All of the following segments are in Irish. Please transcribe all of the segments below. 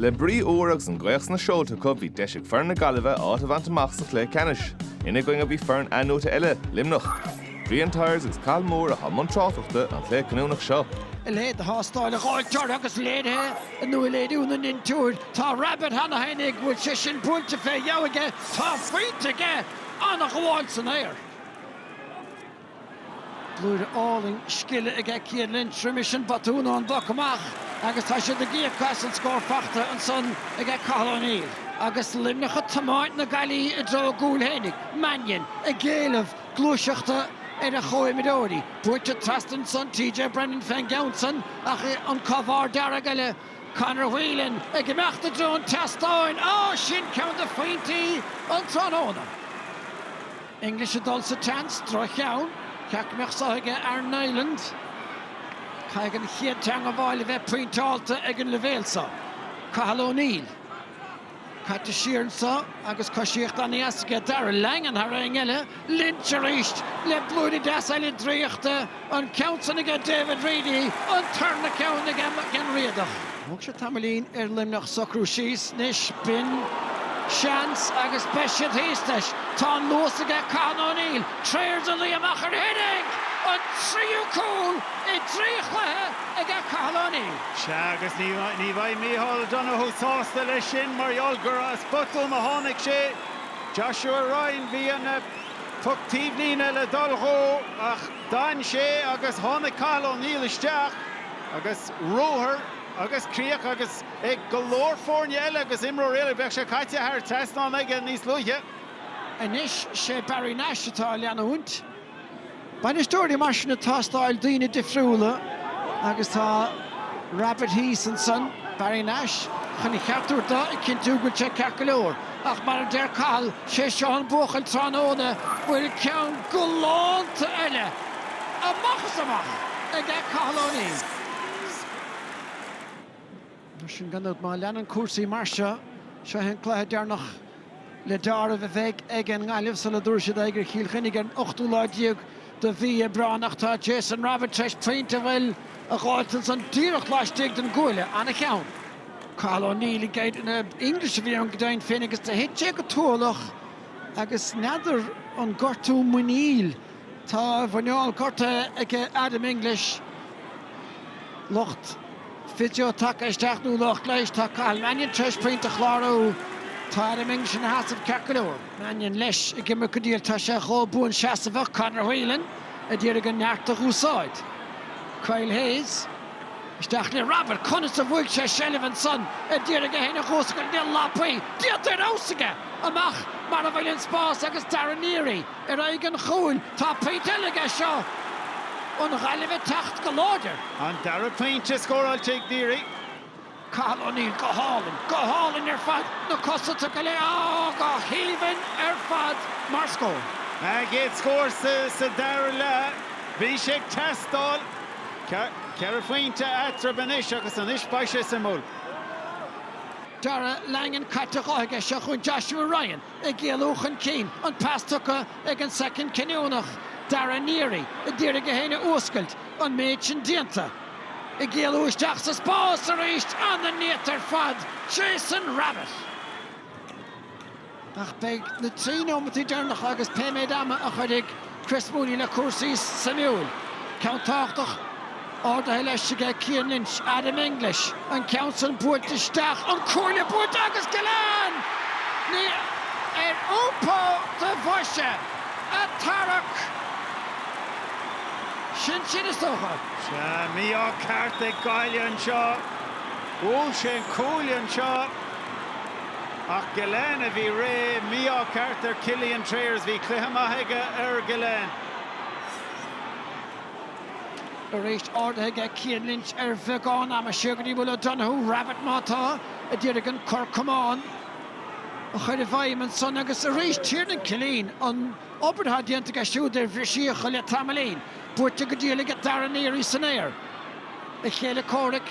Le brí úr agus an ghaoth sna seolta acu, bhí deis ag foireann na Gaillimhe áit a bhaint amach sa chluiche ceannais. Ina gcoinne bhí foireann athnuaite eile, Luimneach. Brian Tyers agus Cathal Moore a chuaigh i mbun tráchtaireachta an chluiche cinniúnach seo. A leithéid de thástáil a gheobhfar agus léirithe i nua-léiriú na ndintiúir. Tá Rabbit cheana féinig go bhfuil sé sin buailte fé dheabhadh aige. Tá foinse aige an-ghabháil san aer. Blúire álainn scile aige Cian Lynch tar éis an botún ón bpoc amach agus tá siad ag íoc as an scór faighte ansan aige Cathal O'Neill. Agus Luimneach ag tiomáint na Gaillimhe i dtreo a gcúil fhéinig, Mannion ag éileamh gluaiseachta ar a chomhimreoirí. Buailte trasna ansan TJ Brennan fén gceann san ach an clogad dearg eile Conor Whelan ag imeacht i dtreo an teastáin. Á! Sin ceann de phointí an tráthnóna. English ag dul sa tseans, droch-cheann, cheart go mbeadh saor aige Aaron Niland. Caithfidh an chéad teangabháil a bheith pointeálta ag an leibhéal seo. Cathal O'Neill. Caite siar anseo agus coisíocht an-deas aige. Darragh Langan thar éinne eile. Lynch arís le blúire deas eile draíochta. an ceann san aige David Reidy, an tarna ceann aige Mac Giolla Riadach. Thóg sé tamaillín ar Luimneach socrú síos anois, b'in seans agus beidh siad thíos leis. Tá an luas aige Cathal O'Neill, tar éis dul amach air féinig! An tríú cúl i dtrí chluiche aige Cathal O'Neill. Sea agus ní bheidh Micheál Donoghue sásta leis sin mar gheall gur as botún a tháinig sé. Joshua Ryan, bhí an. Puc taobh líne le dul dhó ach d'fhan sé agus tháinig Cathal O'Neill isteach agus ruathar agus críoch agus ag go leor foirne eile agus imreoirí eile bheadh sé caite thar an trasnán aige níos luaithe. Anois sé Barry Nash atá á leanúint. Bainistíocht mar sin ag teastáil, daoine difriúla agus tá Rabbit thíos ansan, Barry Nash, chun a cheart a thabhairt dó, ag cinntiú go bhfuil sé ceart go leor. Ach mar a deir Cathal, sé seo an buachaill tráthnóna bhfuil ceann galánta eile amach is amach aige, Cathal O'Neill. Mar sin gan dabht. Má leanann cúrsaí mar seo, seo é an cluiche deireanach le deáramh a bheidh ag an nGaillimh sula dtabharfaidh siad aghaidh ar Chill Chainnigh ar an ochtú lá déag de mhí Aibreáin ach tá Jason Rabbitte tar éis pointe gleoite a dh'fháilt ansan díreach laistigh den gcuaille. An-cheann. Cathal O'Neill ní hea Diarmaid English a bhí ann go deimhin féin agus do thit sé go tuathalach agus n'fheadar an gortú muiníl Tá a mhuineál gortaithe ag Adam English, lucht physio tagtha isteach nó lucht leighis. Tá Cathal Mannion tar éis pointe a chlárú. Tá Adam English ina sheasamh ceart go leor. Mannion, leis, ag imirt go diail. Tá sé chomh buanseasamhach. Conor Whelan ag iarraidh an neart a dh'úsáid. Kyle Hayes, isteach le Rabbitte. Conas a bhuaigh sé seilbh ansan? Ag iarraidh é féin a dh'fhuascailt, níl Lappui, déanta ar fheabhas aige! Amach mar a bhfuil an spás agus Darragh Neary. Ar aghaidh an chúil, tá pointe eile aige seo an Ghaillimh ag teacht go láidir. An dara pointe scóráilte ag Neary. Cathal O'Neill go hálainn, go hálainn ar fad, na castaí go léir, á, go haoibhinn ar fad mar scór. A gcéad scór sa dara leath. Bhí sé ag teastáil. Ceithre phointe eatarthu anois agus anois beidh sé suimiúil. Darragh Langan caite dhe aige seo chugainn, Joshua Ryan. ag éalú chun cinn, an pas tugtha ag an soicind cinniúnach, Darragh Neary ag iarraidh é féin a fhuascailt, an méid sin déanta, ag éalú isteach sa spás arís, ana néata ar fad, Jason Rabbitte! Ach beidh na trí nóimeataí deireanacha agus pé méid ama a chuirfidh. Chris Mooney le cúrsaí suimiúil. Ceann tábhachtach ardaithe leis aige Cian Lynch, Adam English. An ceann sin buailte isteach, an cuaille buailte agus Gillane! ar iompó do bhoise ag tarrac sin sin, is dócha. Sea, mí-ádh ceart ag Gaillimh anseo. Bhuail sé an cuaille anseo. Ach Gillane a bhí réidh. Mí-ádh ceart ar Cillian Trayers. Bhí cluiche maith aige ar Gillane. Arís ardaithe aige Cian Lynch ar bheagán ama. Siar go dtí Will O'Donoghue. Rabbitte má tá. A d'iarraidh an cor camán a chuir i bhfeidhm ansan agus arís Tiernan Killeen. An obair atá déanta aige siúd ar bhristíocha le tamaillín. Buailte go diail aige Darragh Neary san aer. A chéile comhraic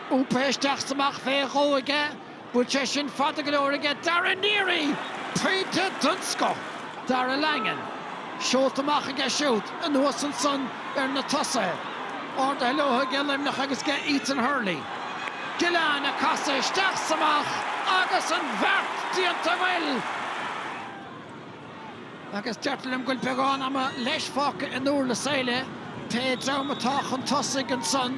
iompaithe isteach 's amach. fé dhó aige. Bhfuil sé sin fada go leor aige Darragh Neary! Pointe den scoth! Darragh Langan seolta amach aige siúd. Anuas ansan ar na tosaithe. Ardaithe leo aige Luimneach agus aige Ethan Hurley. Gillane ag casadh isteach 's amach agus an bheart déanta! Bhuel! Agus deirtear liom go bhfuil beagán ama leis fágtha i nDúrlas Éile, pé dream atá chun tosaigh ansan,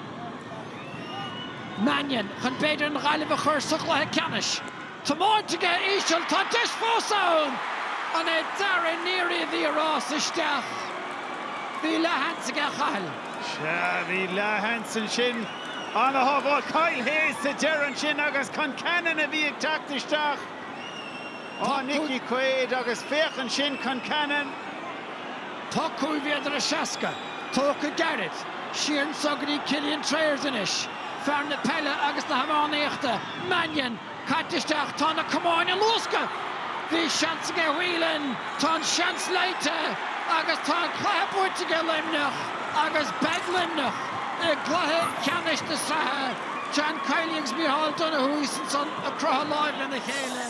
Mannion, chun b'fhéidir an Ghaillimh a chur sa chluiche ceannais. Tiomáinte aige íseal, tá deis fós ann! An é Darragh Neary a bhí ag rás isteach? Bhí leathsheans aige a Chathail. Sea, bhí leathsheans ansin. Ana-shábháil Kyle Hayes sa deireadh ansin agus Concannon a bhí ag teacht isteach. Tá Nickie Quaid agus féach ansin Concannon! Tá cúig mhéadar is seasca tógtha gairid seo chugainn Cillian Trayers anois. Fear na peile agus na hiománaíochta, Mannion, caite isteach, tá na camáin á luascadh! Bhí seans aige Whelan, tá an seans ligthe agus tá an cluiche buaite ag Luimneach agus beidh Luimneach i gcluiche ceannais na sraithe John Kiely agus Micheál Donoghue ansan ag croitheadh lámh lena chéile.